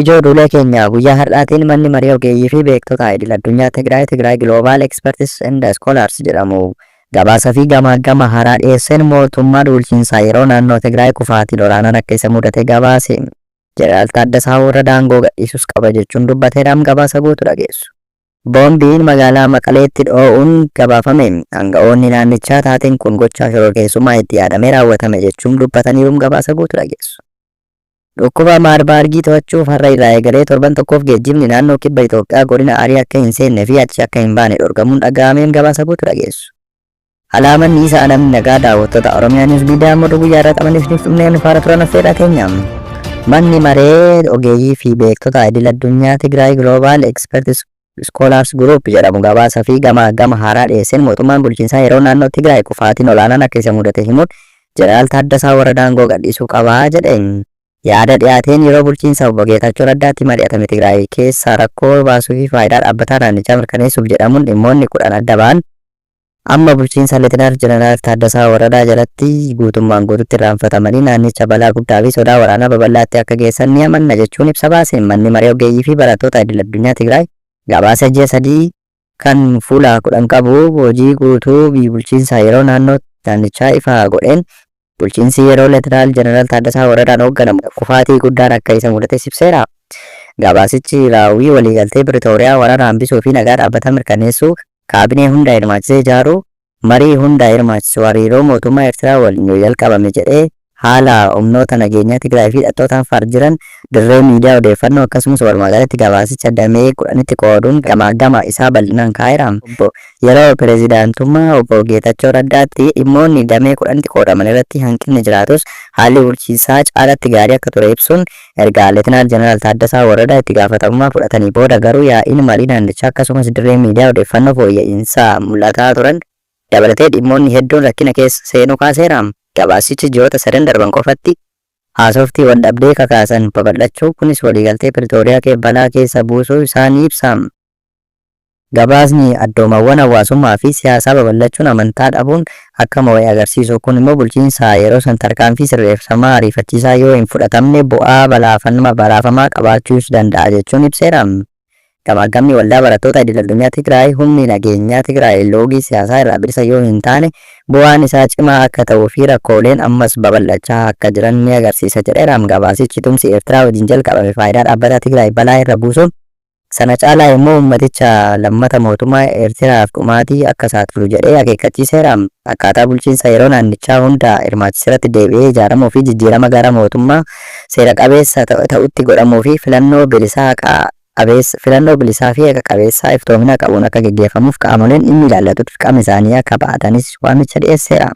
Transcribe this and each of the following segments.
Ijoo duulee keenya guyyaa har'aatiin manni marii ogeeyyii fi beektota idil addunyaa Tigraay Tigraay Global Experts and Scholars jedhamu gabaasa fi gamaaggama haaraa dhiyeesseen mootummaa duulchiinsaa yeroo naannoo Tigraay kufaatii olaanaan akka isa mudate gabaase. Jeneraal Taaddasaa Warradaa aangoo gadhiisuus qaba jechuun dubbateeraam gabaasa guutu dhageessu. Boombiin magaalaa Maqaleetti dhoo'uun gabaafame. Aanga'oonni naannichaa taateen kun gochaa shororkeessummaa itti yaadamee raawwatame jechuum dubbataniiruum gabaasa guutu dhageessu. Dhukkuba Maarbaargii to'achuuf har'a irraa eegalee torban tokkoof geejjibni naannoo kibba Itoophiyaa godina Arii akka hin seenne fi achi akka hin baane dhorgamuun dhaga'ameem gabaasa guutu dhageessu. Alaamanni isa alamni nagaa daawwattoota Oromiyaa News Media Moduu guyyaa irraa qaban isiniif dhumnee nu faana turan affeerraa keenya. Manni maree ogeeyyii fi beektota idil addunyaa Tigraay Global Experts Scholars Group jedhamu gabaasa fi gama gama haaraa dhiyeesseen mootummaan bulchiinsaa yeroo naannoo Tigraay kufaatiin olaanaan akka isa mudate himuun Jeneraal Taaddasaa Waradaa aangoo gadhiisuu qabaa jedhe. Yaada dhiyaateen yeroo bulchiinsa obbo Geetaachoo Raddaatti mari'atame Tigraay keessaa rakkoo baasuu fi faayidaa dhaabbataa naannichaa mirkaneessuuf jedhamuun dhimmoonni kudhan adda ba'an Amma bulchiinsa Letinaal Jeneraal Taaddasaa Waradaa jalatti guutummaan guututti irraanfatamanii naannicha balaa guddaa fi sodaa waraanaa babal'aatti akka geessan ni amanna jechuun ibsa baaseen Manni Maree Oggeeyyii fi Barattoota Idil Addunyaa Tigraay gabaasa ji'a sadii kan fuula 10 qabu hojii guutuu bulchiinsa yeroo naannoo naannichaa ifa godheen Bulchiinsi yeroo Leetinaal Jeneraal Taaddasaa Waradaan hoogganamu kufaatii guddaan akka isa mudates ibseera. Gabaasichi raawwii waliigaltee Piritooriyaa waraana hambisuu fi nagaa dhaabbataa mirkaneessuu, kaabinee hunda hirmaachisee ijaaruu, marii hunda hirmaachisu, hariiroo mootummaa Eertiraa waliin yoo jalqabame jedhee haala humnoota nageenyaa Tigraay fi hidhattoota Affaar jiran dirree miidiyaa odeeffannoo akkasumas walumaagalatti gabaasicha damee kudhanitti qooduun gamaaggama isaa bal'inaan kaa'eera. Obbo Yeroo pirezidaantummaa Obbo Geetachoo Raddaatti dhimmoonni damee kudhanitti qoodaman irratti hanqinni jiraatus haalli bulchiinsaa caalatti gaarii akka ture ibsuun erga Letinaal Jeneraal Taaddasaa Warradaa itti gaafatamummaa fudhatanii booda garuu yaa'iin marii naannichaa akkasumas dirreen miidiyaa odeeffannoo fooyya'iinsa mul'ataa turan dabalatee dhimmoonni hedduun rakkina keessa seenuu kaaseera. Gabaasichi ji'oota sadan darban qofatti haasofti waldhabdee kakaasan babal'achuu kunis waliigaltee Piritooriyaa balaa keessa buusuu isaa ni ibsa. Gabaasni addoomawwan hawaasummaa fi siyaasaa babal'achuun amantaa dhabuun akka moo'e agarsiisu kun immoo bulchiinsa yeroo san tarkaanfii sirreefsamaa ariifachiisaa yoo hin fudhatamne bu'aa balaafamaa qabaachuus danda'a jechuun ibseera. Gamaaggamni Waldaa Barattoota Idil Addunyaa Tigraay humni nageenyaa Tigraay loogii siyaasaa irraa bilisa yoo hin taane bu'aan isaa cimaa akka ta'uu fi rakkooleen ammas babal'achaa akka jiran ni agarsiisa jedheera. Gabaasichi tumsi Eertiraa wajjin jalqabame faayidaa dhaabbataa Tigraay balaa irra buusuun Sana caalaa immoo ummaticha lammata mootummaa Eertiraaf dhumaatii akka saaxilu jedhee akeekkachiiseera. Akkaataa bulchiinsa yeroo naannichaa hunda hirmaachiserratti deebi'ee ijaaramuu fi jijjiirama gara mootummaa seera qabeessa ta'utti godhamuu fi filannoo bilisaa haqa qabeessa filannoo bilisaa fi haqa qabeessaa iftoomina qabuun akka geggeeffamuuf qaamoleen dhimmi ilaallatu dirqama isaanii akka ba'atanis waamicha dhiyeesseera.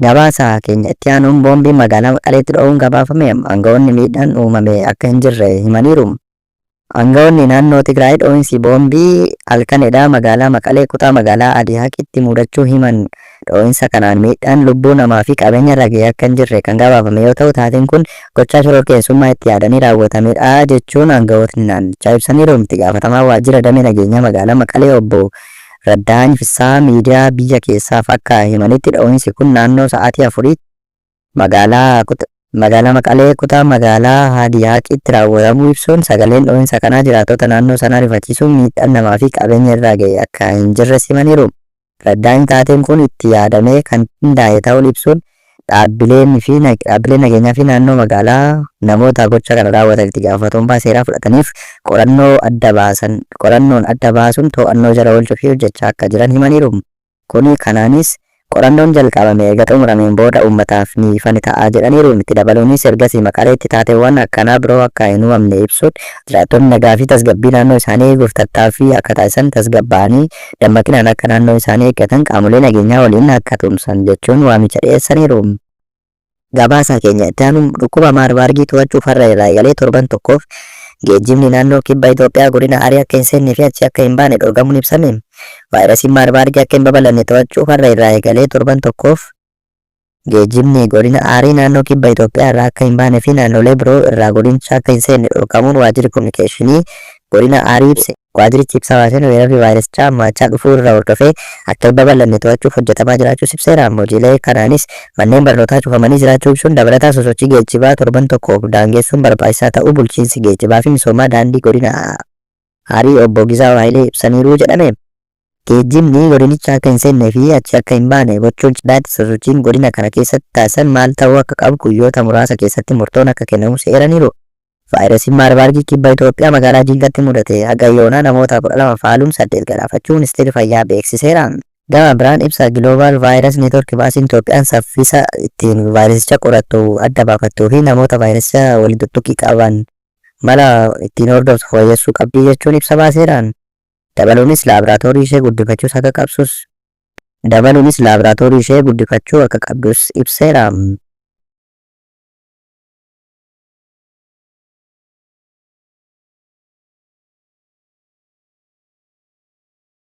Gabaasa keenya itti aanuun boombiin magaalaa Maqaleetti dho'uun gabaafame. Aanga'oonni miidhaan uumame akka hin jirre himaniiru. Angawoonni naannoo Tigraay dhoo'insi boombii halkan edaa magaalaa Maqalee kutaa magaalaa Adihaqitti muudachuu himan. Dhoo'insa kanaan miidhaan lubbuu namaa fi qabeenya irra ga'e akka hin jirre kan gabaafame yoo ta'u taateen kun gochaa shororkeessummaa itti yaadanii raawwatamedha jechuun angawootni naannichaa ibsaniiru. Itti gaafatamaan waajjira damee nageenyaa magaalaa Maqalee obbo Raddahaany Fissahaa miidiyaa biyya keessaaf akka himanitti dhoo'insi kun naannoo sa'aatii afuriitti. Magaalaa Kut Magaalaa Maqalee kutaa magaalaa Haadiyaaqiitti raawwatamuu ibsuun sagaleen dhohinsa kanaa jiraattota naannoo sanaa rifachiisuun miidhaan namaa fi qabeenya irraa ga'e akka hin jirres himaniiru. Raddaayni taateen kun itti yaadamee kan qindaa'e ta'uun ibsuun dhaabbileen fi dhaabbileen nageenyaa fi naannoo magaalaa namoota gocha kana raawwatan itti gaafatamummaa seeraa fudhataniif qorannoo adda baasan qorannoon adda baasuun to'annoo jala oolchuu fi hojjechaa akka jiran himaniiru. Kuni kanaanis qorannoon jalqabame eega xumurameen booda uummataaf ni ifa ni ta'a jedhaniiru. Itti dabaluunis ergasii Maqaleetti taateewwan akkanaa biroo akka hin uumamne ibsuun, jiraattonni nagaa fi tasgabbii naannoo isaanii eeguuf tattaaffii akka taasisan, tasgabbaa'anii dammaqinaan akka naannoo isaanii eeggatan qaamolee nageenyaa waliin akka tumsan jechuun waamicha dhiyeessaniiru. Gabaasaa keenya itti aanuun dhukkuba Maarbaargii to'achuuf har'a irraa eegalee torban tokkoof geejjibni naannoo kibba Itoophiyaa godina Arii akka hin seennee fi achi akka hin baane dhorgamuun ibsame. Vaayirasiin Maarbaargii akka hin babal'anne to'achuuf har'a irraa eegalee torban tokkoof geejjibni godina Arii naannoo kibba Itoophiyaa irraa akka hin baane fi naannolee biroo irraa godinicha akka hin seenne dhorkamuun waajjirri kominikeeshinii godina Arii ibse. Waajjirichi ibsa baaseen weerarri vaayirasichaa hammaachaa dhufuu irra hordofee akka hin babal'anne to'achuuf hojjetamaa jiraachuus ibseera. Hojiilee kanaanis manneen barnootaa cufamanii jiraachuu ibsuun dabalataan sosochii geejjibaa torban tokkoof daangeessuun barbaachisaa ta'uu Bulchiinsi Geejjibaafi Misoomaa Daandii Godina Arii Obbo Gizaaw Hayilee ibsaniiru jedhame. Geejjibni godinicha akka hin seennee fi achii akka hin baane gochuun cinatti sosochiin godina kana keessatti taasisan maal ta'uu akka qabu guyyoota muraasa keessatti murtoon akka kennamus eeraniiru. Vaayirasiin Maarbaargii Kibba Itoophiyaa magaalaa Jingatti mudate haga yoonaa namoota 12 faaluun 8 galaafachuu Ministeerri Fayyaa beeksiseera. Gama biraan ibsa Global Virus Network baasiin Itoophiyaan saffisa ittiin vaayirasicha qorattu, adda baafattuu fi namoota vaayirasicha waliin tuttuqqii qaban mala ittiin hordoftu fooyyessuu qabdi jechuun ibsa baaseera. Dabaluunis laabraatoorii ishee guddifachuus akka qabsus. Dabaluunis laabraatoorii ishee guddifachuu akka qabdus ibseera.